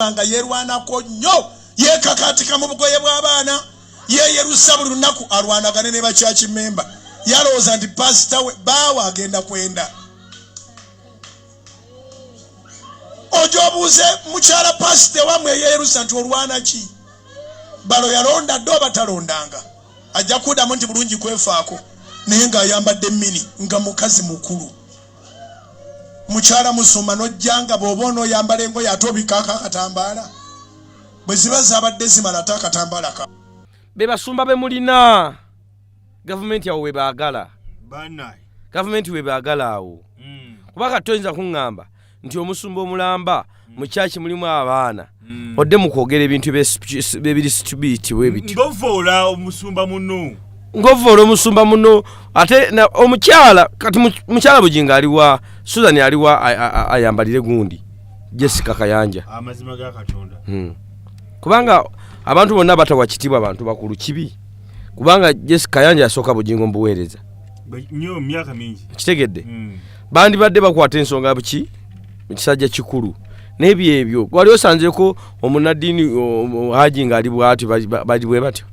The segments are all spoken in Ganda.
bw'aba nga yeerwanako nnyo yeekakaatika mu bugoye bw'abaana yeeyerusa buli lunaku alwanagane ne bakyaki memba yalowooza nti paasita we baawe agenda kwenda ojo obuuze mukyala paasita ewamwe eyeeyerusa nti olwana ki balo yalonda dde oba talondanga ajja kuddamu nti bulungi kwefaako naye ng'ayambadde mini nga mukazi mukulu mukyala musumba nojja nga bwoba onoyambala engoye ate obikaako akatambaala bwe ziba zabadde zimala ate akatambaala ka be basumba be mulina gavumenti awo webaagala gavumenti webaagala awo hmm. kuba kati toyinza kuŋŋamba nti omusumba omulamba mu kyaki mulimu abaana mm. odde mu kwogera ebintu ebiri situbiiti webiti ngovoola omusumba muno ngovoola omusumba muno ate omukyala kati mukyala bujinga aliwa susan aliwa ayambalire gundi jessica kayanja amazima ga katonda hmm. kubanga abantu bonna batawa kitibwa abantu bakulu kibi kubanga jessica kayanja yasooka bujingo mubuweereza nyo myaka mingi kitegedde hmm. bandibadde bakwata ensonga buki ekisajja kikulu nebyo ebyo wali osanzeko omunadini haji nga ali bwati bali bwe batyo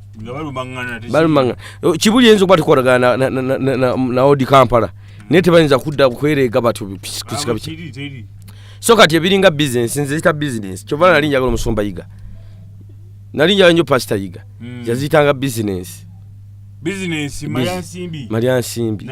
balumanga kibuli enzo bwati koragana na, na, na, na, na, na odi kampala naye tebayinza kudda kwerega batyo kusika biki so kati ebiringa business nze zita business kyova nali njagala omusumba yiga nali njagala nyo pasita yiga mm. yazitanga business business malya nsimbi malya nsimbi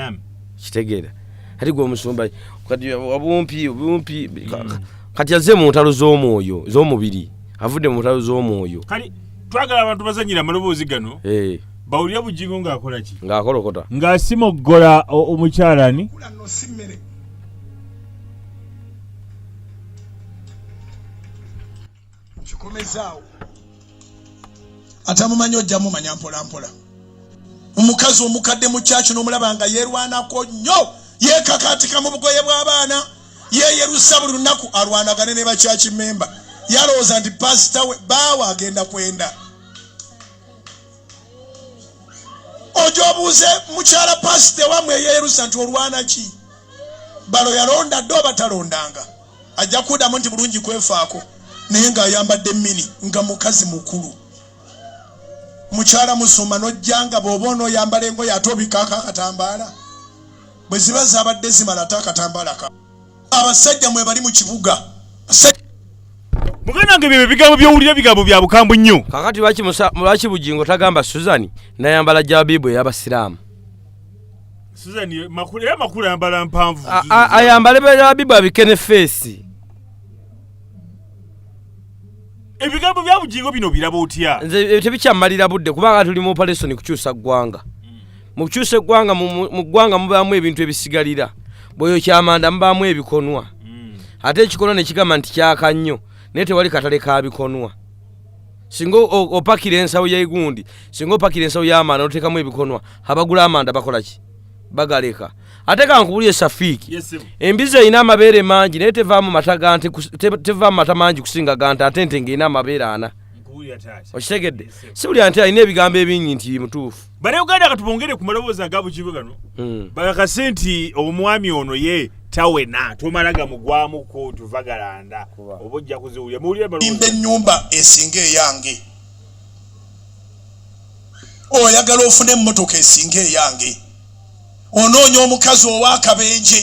kitegeera ati gwe omusumba kati obumpi obumpi mm. kati azze mu ntalo z'omwoyo z'omubiri avudde mu ntalo z'omwoyo kati twagala abantu bazanyira amaloboozi gano eh. bawulira bujingo ng'akola ki ng'akolokota ng'asimoggola omukyalani kikomezaawo atamumanyi ojja mumanya mpolampola omukazi omukadde mu kyaki nomulaba nga yerwanako nnyo yekakatika mu bugoye bw'abaana yeyerusa buli lunaku alwanagane ne bakyaki memba yalowooza nti pasita we baawe agenda kwenda ojo obuuze mukyala pasita ewamwe eyeyerusa nti olwana ki balo yalonda dde obatalondanga ajja kudamu nti bulungi kwefaako naye ng'ayambadde mini nga mukazi mukulu mukyala musumba nojjanga bwoba onoyambala engoye ate obikaako akatambaala bwe ziba zabadde zimala ate akatambaala ka abasajja mwe bali mu kibuga muganda wange byebyo bigambo byowulira bigambo bya bukambwe nnyo kakati lwaki bugingo tagamba suzani nayambala jabibu eyabasiraamu Susan ye- makula era makula ayambala mpanvu A- a- ayambale berabibu abike ne feesi ebigambo bya bugingo bino biraba otya nze ebyo tebikyammalira budde kubanga tuli mu operation kukyusa ggwanga mu kukyusa eggwanga mu- mu mu ggwanga mubaamu ebintu ebisigalira bweyo kyamanda mubaamu ebikonwa ate ekikonwa ne kigamba nti kyaka nnyo naye tewali katale ka bikonwa singa opakira ensawo yegundi singa opakira ensawo yamanda notekamu ebikonwa abagula amanda bakolaki bagaleka ate kankubulye safiiki embizi erina amabeere mangi naye tevaamu mata gante tevaamu mata mangi kusinga gante ate nte ngaerina amabeere ana okitegedde si buli anti alina ebigambo ebingi nti mutuufu banauganda katubongere ku maloboozi aga bukibe gano hmm. bakase nti omwami ono ye tawena tomala gamugwamu kootu vagalanda oba ojja kuziwulira muwuliremba ennyumba esinga eyange oyagala ofune emmotoka esinga eyange onoonya omukazi ow'akabenje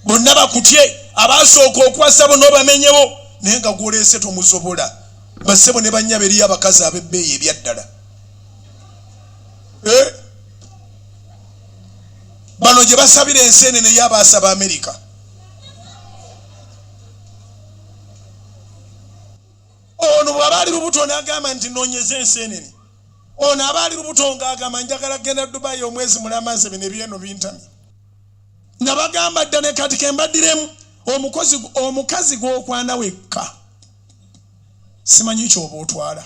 bonna bakutye abaasooka okwasa bona obamenyewo naye nga gwoleese tomuzobola bassebo ne bannya beriyo abakazi ab'ebbeeyi ebyaddala eh? bano gye basabira ensi enene yo abaasaba amerika ono bwaba ali lubuto nagamba nti nonyeza ensi enene ono aba ali lubuto ngaagamba njagala kgenda dubayi omwezi mulamaze bino ebyeno bintami nga bagamba dda ne kati kembadiremu omukazi gwokwana wekka simanyi kyoba otwala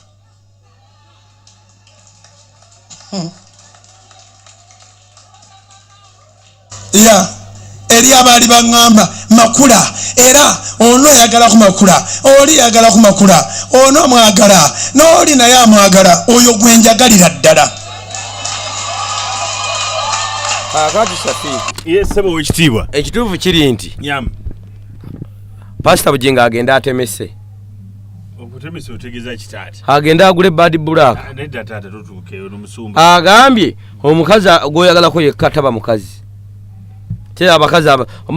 ya eri abaali baŋŋamba makula era ono ayagala ku makula oli ayagala ku makula ono amwagala n'oli naye amwagala oyo gwe njagalira ddala kakati shafiiki ye ssebo owekitiibwa ekituufu kiri nti pasita bugingo agenda atemese agende agule bad black ah, agambye omukazi gwoyagalako yekka taba mukazi te abakazi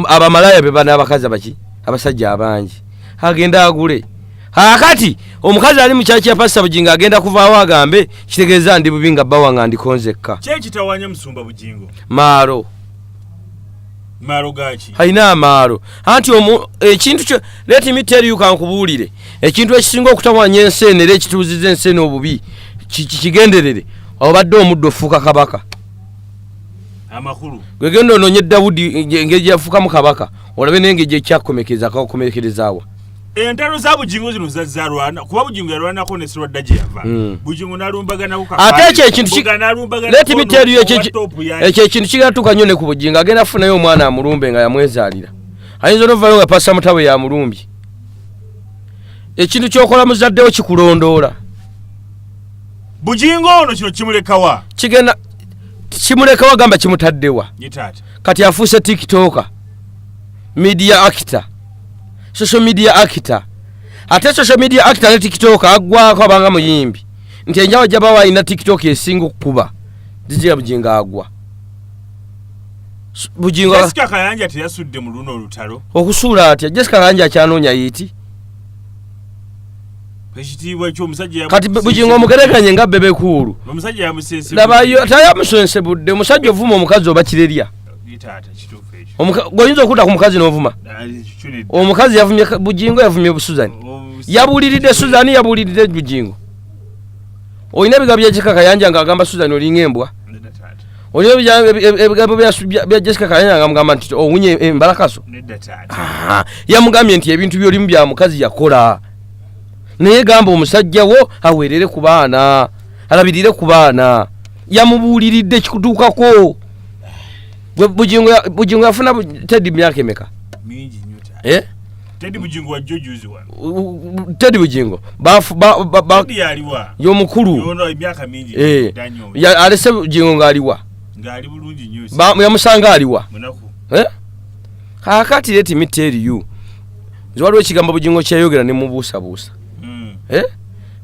abamalaya bebana abakazi abaki abasajja abangi agende agule akati omukazi ali mukyaki yapasita bugingo agenda kuvaawo agambe kitegeeza ndi bubi nga bawanga ndikonzekka maaro alina amaalo anti ekintu kyo leti miteeriyo kankubuulire ekintu ekisinga okutawanya ensi eno era ekituuziza ensi eno obubi kigenderere obadde omuddu ofuuka kabaka gwegenda ononye dawudi engeri gyafuukamu kabaka olabe nengeri gyekyakomekereza kakomekerezaawa entalo za bujingo zino zazza rwanda kuba bujingo yalwanako ne sirwadda gye yava hmm. bujingo nalumbaganako ate ekyo ekintu letimiteeriyo ekyo ekintu kigenda tuuka nnyo ne ku bujingo agenda afunayo omwana amulumbe nga yamwezaalira ayinza onovayo nga pasa mutawe yamulumbye ekintu kyokola muzaddewo kikulondoola bujingo ono kino kimulekawa kigenda kimulekawa gamba kimutaddewa kati afuuse tiktoka media actor social media actor ate social media actor ne tiktok agwako abanga muyimbi nti enjawo jaba walina tiktok esinga okukuba jijira bujingo agwa bujingo jessica kayanja teyasudde mu luno olutalo okusuula atya jessica kayanja akyanoonya yiti ekitiibwa ekyomusajja ya kati bujingo omugerekanye nga bebe kuulu omusajja yamusensebudde laba yo tayamusensebudde omusajja ovuma omukazi oba kirerya oyinza okudda ku mukazi novuma omukazi yavumye bujingo yavumye busuzani yabuliridde suzani yabuliridde bujingo olina ebigambo byajessica kayanja nga agamba suzani olinga embwa olina ebigambo bya jessica kayanja nga mugamba nti owunye oh, embalakaso eh, yamugambye nti ebintu byolimu bya mukazi yakola naye gamba omusajja wo awerere ku baana alabirire ku baana yamubuuliridde kikutuukako gwe bugingo ya- bugingo yafuna bu- tedi myaka emeka mingi nnyo taata. Eh? tedi bugingo wa jjo juzi wano U- u- tedi bugingo bafu- ba- ba- ba- tedi yaliwa y'omukulu yono emyaka mingi Eh. dda nnyo Ya- alese bugingo ng'aliwa ng'ali bulungi nnyo Ba- yamusanga aliwa munaku Eh? kakati let me tell you nze waliwo ekigambo bugingo kyeyogera nemubuusabuusa Mm, Eh?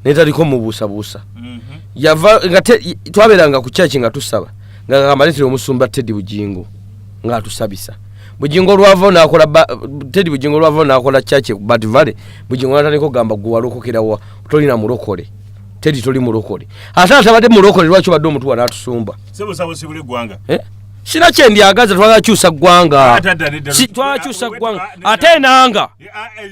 netaliko mubuusabuusa mhm. yava nga te- twabeeranga ku kyaki nga tusaba nga kagamba letera omusumba teddy bugingo nga atusabisa bugingo olwava nakola teddy bugingo olwava nakola chache ku bat valley bugingo natandika okugamba gwe walokokerawa tolina mulokole teddy toli mulokole ate atabadde mulokole lwaki obadde omutuwa natusumba sebusabusibule eggwanga eh? sina kyendyagaza twagala kyusa ggwanga ah, twagala kyusa ggwanga ate enanga eh, ah, eh,